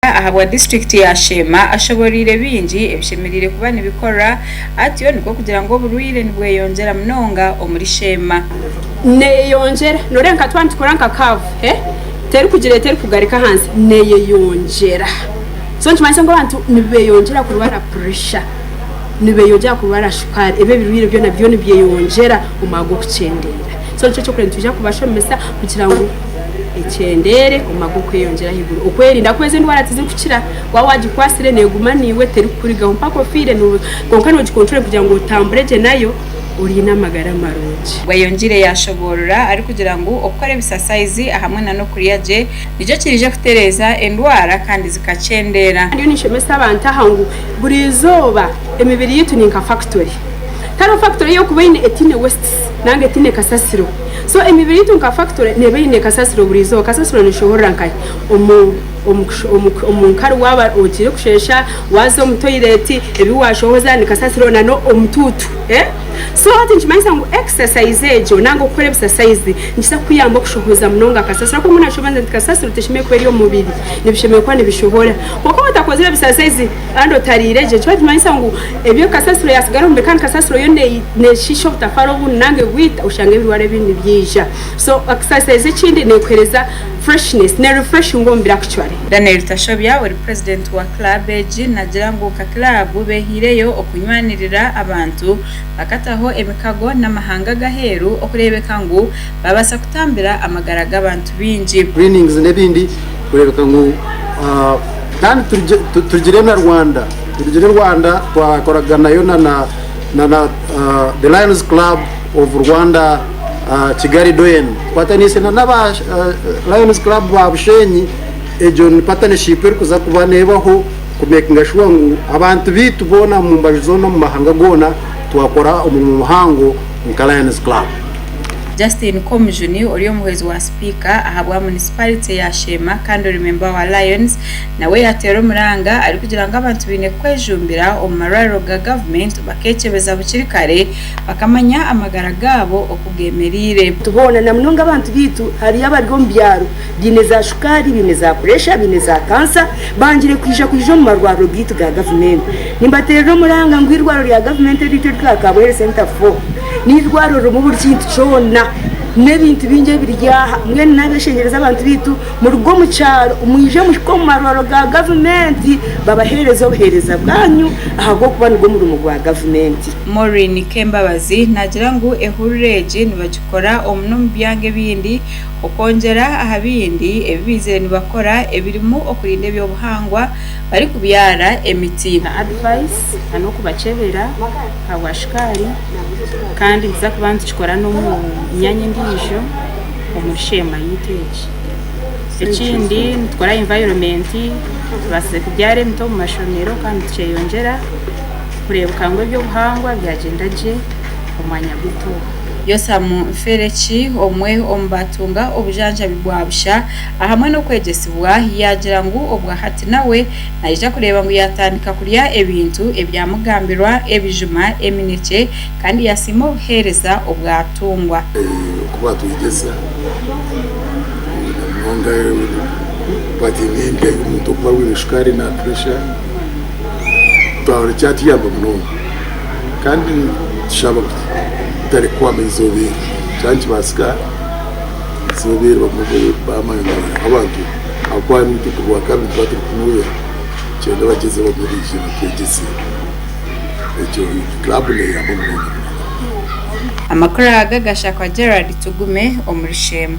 Omunyamabanga ahabwa disiturikiti ya Sheema ashoboreire bingi ebishemereire kuba nibikorwa atyo nikwo kugira ngu oburwaire nibweyongyera munonga omuri Sheema. Neyeyongyera noreeba nka twaba nitukora nka kaavu terikugira eti erikugarika ahansi neyeyongyera so nikimanyisa ngu abantu nibeyongyera kurwara puresha, nibeyongyera kurwara shukaari ebi ebirwaire byona byo nibyeyongyera omwago kukyendera so nikyo kyokureeba ngu nitwija kubashomesa kugira ngu Ekyendeere, omumagu okweyongyera ahaiguru. Okwerinda ku ezi endwara tizirikukira. Waaba waagikwatsire neeguma naiwe terikukurigaho mpaka ofiire kwonka noogikontroora kugira ngu otambure gye nayo oine amagara marungi. Bweyongiire yaashoboorora arikugira ngu okukora ebisasayizi ahamwe nana okurya gye nikyo kiriije kutereeza endwara kandi zikakyendeera. Ndiyo ninshomesa abantu aha ngu buri izooba emibiri yaitu ni nka fakitori. Tariho fakitori ei orikuba oine etaine wesiti nari etaine kasasiro. So emibiri yaitu nka factory neeba eine kasasiro buri izooba. Kasasiro neshohorera nkahi? Omu omu omu omu nkari waaba ogiire kusheesha, waaza omu toilet, ebi waashohoza ni kasasiro na n'omutuutu. Eh? So hati nikimanyisa ngu exercise egyo nanga okukora ebisasayizi nikiza kukuyamba okushohoza munonga kasasiro ahabw'okuba mbwenu noshemeza nti kasasiro teshemereire kuba eri omu mubiri, nibishemereire kuba nibishohora. Kwonka waatakozire bisasayizi. Kandi otariire gye. Eki nikimanyisa ngu ebi kasasiro yatsigara omu kandi kasasiro yo neeshiisha obutafara obundi nari bwita oshange ebirwara ebindi nibyija. So exercise ekindi neekuheereza freshness, neerefreshinga omubiri actually. Daniel Tashobya ori purezidenti wa club egi naagira ngu nka club beehaireyo okunywanirira abantu bakataho emikago n'amahanga ag'aheeru okureebeka ngu baabaasa kutambira amagara g'abantu baingi. Greenings n'ebindi Kureebeka ngu kandi turugire na Rwanda, turugire Rwanda twakoraganayo na The Lions Club of Rwanda Kigali Doyen, tukwataniise n'aba Lions Club ba Bushenyi, egyo ni partnership erikuza kuba neebaho ku makinga shuwa ngu abantu baitu boona omu mbaju zoona omu mahanga goona twakora omurimo muhango. nka Lions Club. Justine Komujuni ori omuhwezi wa sipiika ahabwa munisiparite ya Sheema kandi ori memba wa Lions nawe yateera omuranga arikugira ngu abantu baine kwejumbira omu marwariro ga gavumenti bakekyebeza bukiri kare bakamanya amagara gaabo oku gemereire. Nti boona, namunonga abantu baitu hariyo abari omu byaro baine za shukaari, baine za puresha, baine za kansa, bangire kwija kwija omu marwariro gaitu ga gavumenti. Nimbateerera omuranga ngu eirwariro rya gavumenti eryaitu eritwara Kabwere Centre for n'eirwariro ririmu buri kintu kyona, n'ebintu bingi ebiri aha. Mbwenu naabeshengyereza abantu baitu muruge omu kyaro mwije muhike omu marwariro ga gavumenti babaheereze obuheereza bwanyu ahabw'okuba nigwo murimo gwa gavumenti. Maureen Kembabazi naagira ngu ehurura egi nibagikora omu n'omu byanga ebindi Okwongyera aha bindi ebi baizire nibakora ebirimu okurinda eby'obuhangwa barikubyara emiti. Na advice na n'okubakyebera ahabwa shukaari kandi nituza kuba nitukikora n'omu myanya endiijo omuri sheema yaitu egi. Ekindi nitukora environment tubaasize kubyara emiti omu mashomero kandi nitukyeeyongyera kureebeka ngu eby'obuhangwa byagyenda gye omwanya gwaitu ogu. Yosamu Nfereki, omwe omu baatunga obujanjabi bwa busha ahamwe n'okwegyesibwa, yaagira ngu obwahati nawe naija kureeba ngu yaatandika kurya ebintu ebyamugambirwa, ebijuma, eminekye, kandi yaasiima obuheereza obu atungwa. Ku baatwegyesa munonga bati n'endya y'omuntu okuba arwaire shukaari na puresha, twahurira kyatuyamba munonga. Kandi nitushaba ngu tutarikuhwamu eizooba eri shana nikibaasika eizooba eri bamwe baamanywa nk'abantu ahabw'okuba harimu obutuku bwa kabiri nituba turikumwera nikigyenda bagyezeho bamwe baije batwegyese ekyo kiraabu neeyamba munonga munonga. Amakuru aga gashakwa Gerald Tugume omuri Sheema.